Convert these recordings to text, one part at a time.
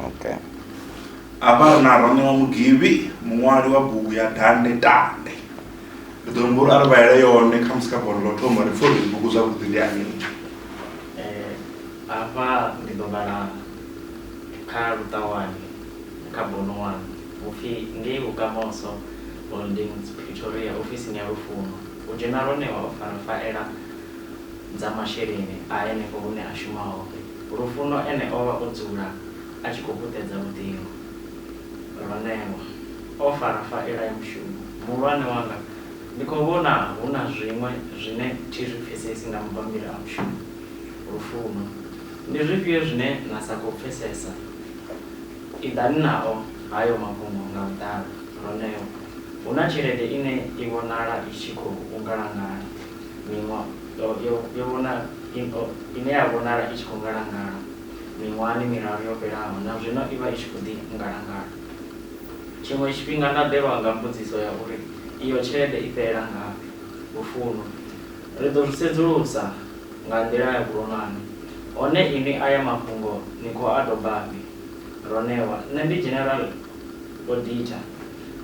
okay hafha na ronewa mugivhi muṅwali wa bugu ya dande dande ndi ḓo humbula uri a ri vhaele yone kha musi kha bono ḽo thoma ri pfhe uri bugu zwavhuḓi ndi ani Eh, hafha ndi ḓo vhala kha luṱawani kha bono wanu upfhi ngei vhukamoso holdings pretoria ofisini ya lufuno u dzhena ronewa o fara faela dza masheleni a henefho hune a shuma hone. Lufuno ene o vha o dzula a tshi khou puṱedza luṱingo. Ronewa o fara faela ya mushumo. Muhulwane wanga, ndi khou vhona hu na zwiṅwe zwine thi zwi pfesesi nga mabammbiri a mushumo. Lufuno, ndi zwifhio zwine na sa khou pfesesa? I ḓani nao hayo mafhungo nga vhuḓalo. Ronewa, Hu na tshelede ine i vhonala i tshi khou ngalangala. miṅwaha yo vhona ine ya vhonala i tshi khou ngalangala miṅwahani miraru yo fhelaho, na zwino i vha i tshi khou ḓi ngalangala. Tshiṅwe tshifhinga nda ḓelwa nga mbudziso ya uri iyo tshelede i fhelela ngafhi. Lufuno. Ri ḓo zwi sedzulusa nga nḓila ya vhuronwane. Hone inwi aya mafhungo ni khou a dobafhi? Ronewa, Nṋe ndi General. Auditor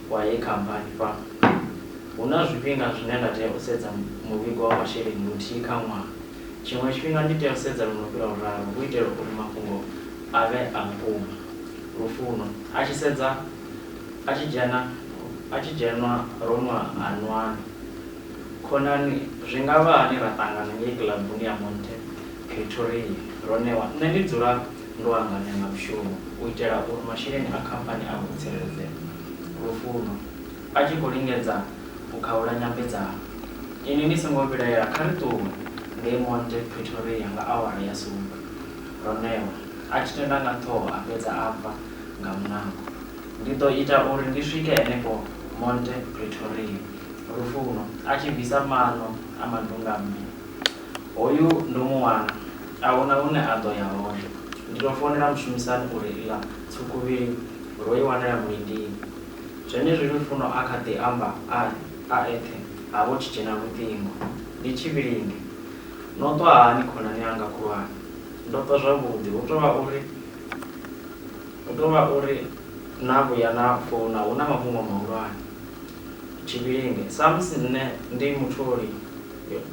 wa heyi khamphani, Fhano hu na zwifhinga zwine nda tea u sedza muvhigo wa masheleni luthihi kha ṅwaha. Tshiṅwe tshifhinga ndi tea u sedza lwo no fhira luraru hu itela uri mafhungo a vhe a vhukuma. Lufuno, a tshi sedza a tshi dzhena a tshi dzhenwa ro nwa ha nwana. Khonani, Zwi nga vha hani ra ṱangana ngei kilabuni ya Monte Pretoria ro ṋewa, nṋe ndi dzula. Ndo anganya nga mushumo u itela uri masheleni a khamphani a vhe o tsireledzea. Lufuno, a tshi khou lingedza u khaula nyambedzano, Inwi ni songo vhilaela, kha ri ṱuwe ngei Monte Pretoria nga awara ya sumbe. Ronewa, a tshi tenda nga ṱhoho a fhedza a bva nga muṋango, Ndi ḓo ita uri ndi swike henefho Monte Pretoria. Lufuno, a tshi bvisa maṋo a mandunga-mmbi. Hoyu ndo mu wana. A hu na hune a ḓo ya hone. Ndi tou founela mushumisani u ri iḽa tswukhuvhili ro i wanela mulindini. Zwenezwi Lufuno a kha ḓi amba a a eṱhe ha vho tshi dzhena luṱingo. Ndi Tshivhilinge. No ṱwa hani khonani yanga khulwane? Ndo ṱwa zwavhuḓi. Hu tou vha uri, hu tou vha uri na vhuya na founa hu na mafhungo mahulwane. Tshivhilinge, Samusi nṋe ndi mutholi.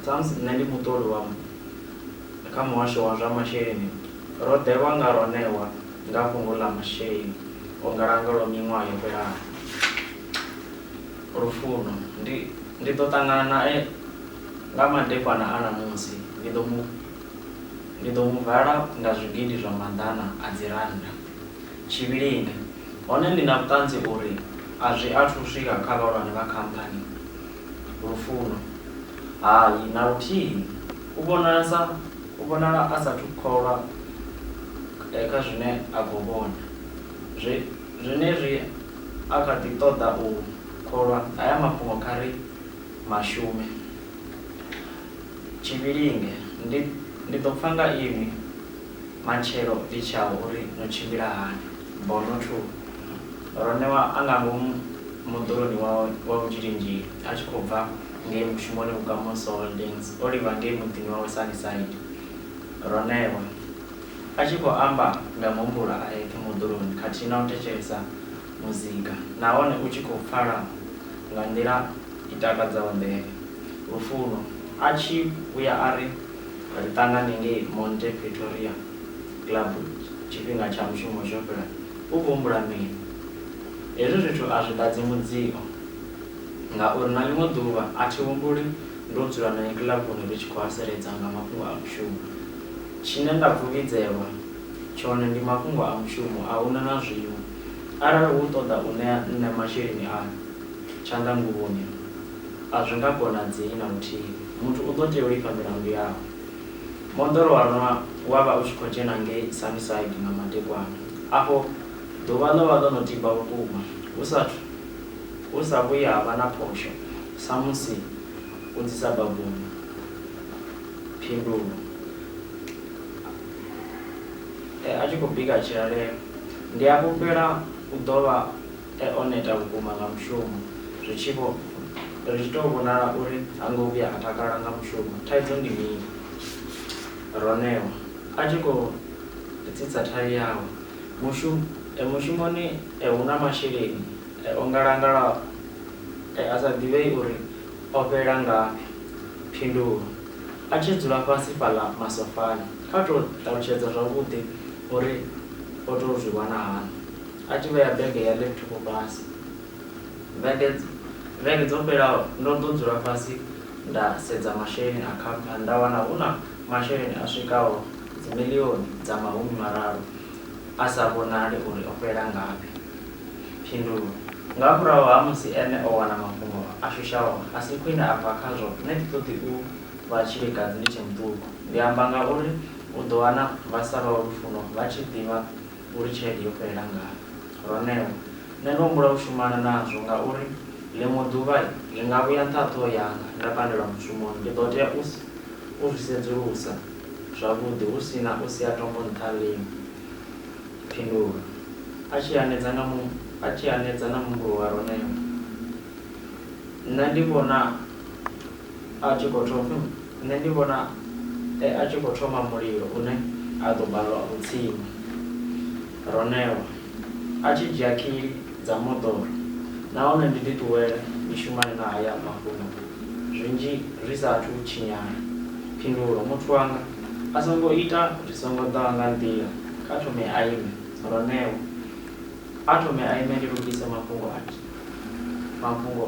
Samusi nṋe ndi muṱoli wa kha muhasho wa zwa masheleni, ro ḓelwa nga ro ṋewa nga fhungo ḽa masheleni o ngalanga lwa miṅwaha yo fhelaho. Lufuno, Ndi ndi ḓo ṱangana nae nga madekwana a ṋamusi, ndi ḓo mu ndi ḓo mu vala nga zwigidi zwa maḓana a dzirannda. Tshivhilinga, Hone ndi na vhuṱanzi uri a zwi athu u swika kha vhahulwane vha khamphani. Lufuno, Hai, na luthihi! U vhonala sa, u vhonala a sa athu kholwa kha zwine a khou vhona. Zwe, zwenezwi a kha ḓi ṱoḓa u kholwa, haya mafhungo kha ri ma shume. Tshivhilinge, Ndi, ndi ḓo pfa nga inwi. Matshelo ndi tshau uri no tshimbila hani. Bono 2, Ro ṋewa a nga ngomu moḓoroni wawe wa vhutshilingili a tshi khou bva ngei mushumoni Vhukamon Soo Holdings o livha ngei muḓini wawe Sunnyside. Ro ṋewa. A tshi khou amba nga muhumbulo a eṱhe moḓoroni khathihi na u thetshelesa muzika nahone u tshi khou pfala nga nḓila i takadzaho nḓevhe. Lufuno a tshi vhuya a ri, Ri ṱangane ngei Monte Pretoria Club tshifhinga tsha mushumo tsho fhela, u khou humbula mini? Hezwi zwithu a zwi ḓadzi mudzio ngauri na ḽiṅwe ḓuvha a thi humbuli ndo dzula nae kiḽabuni ri tshi khou haseledza nga mafhungo a mushumo. Tshine nda pfuvhidzelwa tshone ndi mafhungo a mushumo, a hu na na zwiṅwe. Arali u ṱoḓa u ṋea nṋe masheleni ayo tshanḓanguvhoni, a zwi nga konadzei na luthihi. Muthu u ḓo tea u lifha milandu yawe. Moḓoro wa rwa wa vha u tshi khou dzhena ngei Sunnyside nga madekwana. Afho ḓuvha ḽo vha ḽo no tiba vhukuma, hu sa athu hu sa vhuyi ha vha na phosho samusi u dzi sa babuni. Phindulo. E, a tshi khou bika tshilalelo. Ndi a fhulufhela u ḓo vha e o neta vhukuma nga mushumo, zwi tshi vho ri tshi tou vhonala uri ha ngo vhuya a takala nga mushumo. Thaidzo ndi mini? Ro ṋewa a tshi khou ri tsitsa thayu yawe. Mushu, e, mushumoni e hu na masheleni e o ngalangalaho e a sa ḓivhei uri o fhela ngafhi. Phindulo, A tshi dzula fhasi fhaḽa masofani, kha tou ṱalutshedza zwavhuḓi. O ri o tou zwi wana hani? A tshi vhea bege ya laptop fhasi. Vhege, vhege dzo fhelaho ndo ḓo dzula fhasi nda sedza masheleni a khamphani nda wana hu na masheleni a swikaho dzimiḽioni dza mahumi mararu a sa vhonali uri o fhela ngafhi. Phindulo, Nga murahu ha musi ene o wana mafhungo a shushaho a si khwine a bva khazwo, nṋe thi ṱoḓi u vha tshilikadzi ndi tshe muṱuku. Ndi amba ngauri U ḓo wana vha sa lwa lufuno vha tshi ḓivha uri tshelede yo fhelela ngafhi. Roneo, Nṋe ndo humbula u shumana nazwo ngauri ḽiṅwe ḓuvha ndi nga vhuya nṱhaṱho yanga nda pandelwa mushumoni. Ndi ḓo tea u u zwi sedzulusa zwavhuḓi hu si na u sia tombo nṱha lini? Phindulo, A tshi hanedza nga mu, a tshi hanedza na muhumbulo wa Roneo, Nṋe ndi vhona A tshi khou thoma, nṋe ndi vhona e a tshi khou thoma mulilo une a ḓo balelwa u tsima. Ronelwa, A tshi dzhia khili dza moḓoro nahone ndi ḓiṱuwele ndi shumane na haya mafhungo zwinzhi zwi sa athu tshinyala. Phindulo, Muthu wanga a songo ita zwi songo ḓaho nga nḓila, kha thome a ime. Ronelwa, A thome a ime ndi lugise mafhungo a, mafhungo.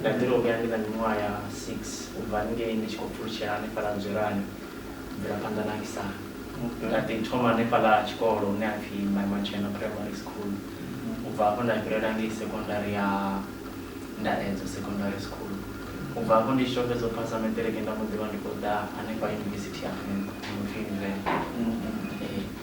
Nda ḓi tou vhuya ndi na miṅwaha ya 6 u bva ngei ndi tshi khou pfulutshela hanefhaḽa Nzwelani u bvela phanḓa na Aksana. Nda ḓi thoma hanefhaḽa tshikolo hune ha pfi Maimatshena Primary School, u bva hafho nda fhirela ngei sekondari ya Ndaedzo Secondary School. U bva hafho ndi tshi tou fhedza u phasa maṱiriki nda mbo ḓi vha ndi khou ḓa hanefha yunivesithi ya Venḓa i no pfi Univen. Ee.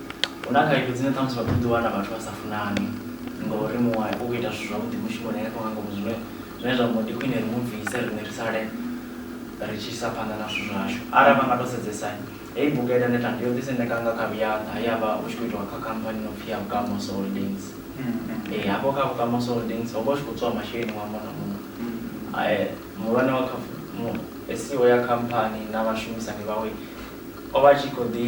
Hu na khaedu dzine ṱhamusi vha ḓo ḓi wana vhathu vha sa funani ngori muṅwe u khou ita zwithu zwavhuḓi mushumoni hanefho nga ngomu zwine zwine zwa amba uri ndi khwine ri mu bvise riṋe ri sale ri tshi isa phanḓa na zwithu zwashu. Arali vha nga tou sedzesa heyi bugu ya Ita Neta ndi yo ḓi sendeka nga kha Vhuyaḓa he ya vha hu tshi khou itiwa kha khamphani i no pfhi ya Vhukamoso Holdings. Ee, hafho kha Vhukamoso Holdings ho vha hu tshi khou tswiwa masheleni ṅwaha muṅwe na muṅwe. Muhulwane wa kha mu, CEO ya khamphani na vhashumisani vhawe o vha a tshi khou ḓi.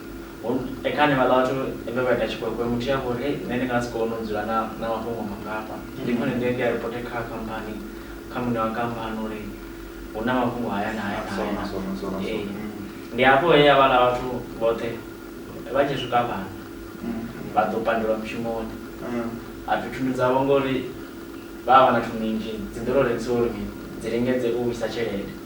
Ekani vhaḽa vhathu vhe vha ita tshikwekwe muthu ya vhori hey nṋe ndi nga si kone u dzula na na mafhungo mangafha ndi khwine ndi ndi a report kha khamphani kha muṋe wa khamphani uri hu na mafhungo haya na haya na haya ndi hafho he ya vhala vhathu vhoṱhe vha tshi swika vhana vha ḓo pandelwa mushumoni a pfhi thundu dzavho ngori vha vha vha na thundu nnzhi dzi ḓo to rengisiwa uri dzi lingedze u vhuisa tshelede.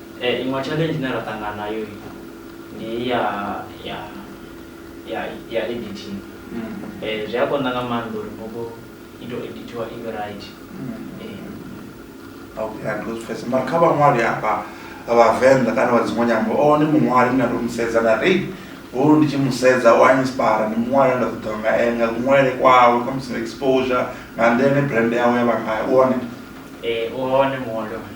Iṅwe challenge ine ra ṱangana nayo ndi ya ya ya ya editing zwi a konḓa nga maanḓa uri bugu i to edithiwa i vhe right. Okay a ndo zwi pfhesesa mara kha vhaṅwali hafha vhavenḓa kana vha dziṅwe nyambo o ndi muṅwali nda ndo mu sedza nda ri hoyu ndi tshi mu sedza u a inspire ndi muṅwali nda ṱoḓa nga ene nga kuṅwalele kwawe kha musi exposure nga nḓila ine brand yawe ya vha ngayo u hone. Ee u hone muṅwali wa hone.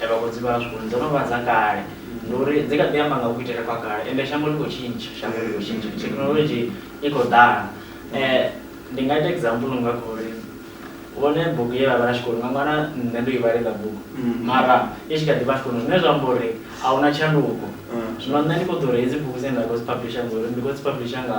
Ee, vhagudzi vhashu uri dzo no vha dza kale. Ndi uri dzi kha ḓi amba nga kuitele kwa kale, ende shango ḽi khou tshintsha, shango ḽi khou tshintsha, thekhinolodzhi i khou ḓala. Ndi nga ita example nga kha uri vhone bugu ye vha vhala tshikoloni, nga ṅwana nṋe ndo i vhala heiḽa bugu mara i tshi kha ḓi vha tshikoloni, zwine zwa amba uri a hu na tshanduko. Zwino nṋe ndi khou ḓo ri hedzi bugu dzine nda khou dzi publisher ndi ḓo ri ndi khou dzi publisher nga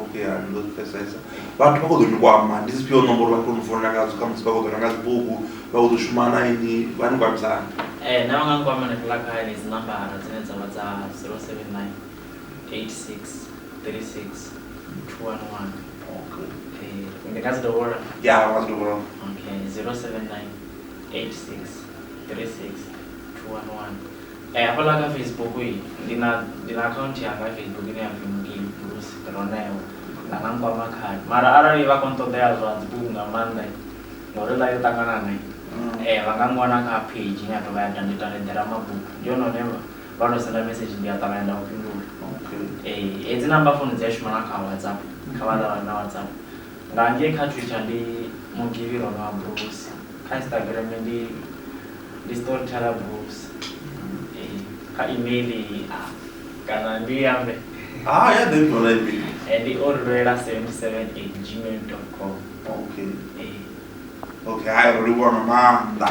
okay a ni ḓo zwi pfesesa vhathu vha khou ḓo ni kwama ndi dzifhio nomboro vha khou ni founela ngadzo kha musi vha khou ḓo renga dzibugu vha khou ḓo shuma na ini vha ni kwamisana Eh, na vha nga nkwama na fhiḽa kha henedzi nambara dzine dza vha dza 079 86 36 211 okay Eh, ndi nga dzi dovhola ya nga zwi dovholola okay 079 86 36 211 Eh, hafhaḽa kha Facebook i ndi na ndi na account yanga ya Facebook ine ya pfi Mukibi Bruce Roneo nda nga nkwama khayo mara arali vha khou nṱoḓea zwa dzibugu nga maanḓa ngori ḽa yo ṱangana ne mm. eh vha nga ngwana kha page ine ya tovha ya dande tande ḓera mabugu ndi yone hone vha to senda message ndi a ṱavhanya nda u fhindula okay eh hedzi namba founu dzi a shuma na kha WhatsApp kha vha ṱavhanya na WhatsApp nga ngei kha Twitter ndi Mukibi Roneo Bruce kha Instagram ndi ndi storyteller books eh, kha email iyi ah, kana ndi i ambe Ah, ya ḓe tora email. Eh, ndi o lwela 77@gmail.com Okay. eh, Okay, hai ro livhuwa nga maanḓa.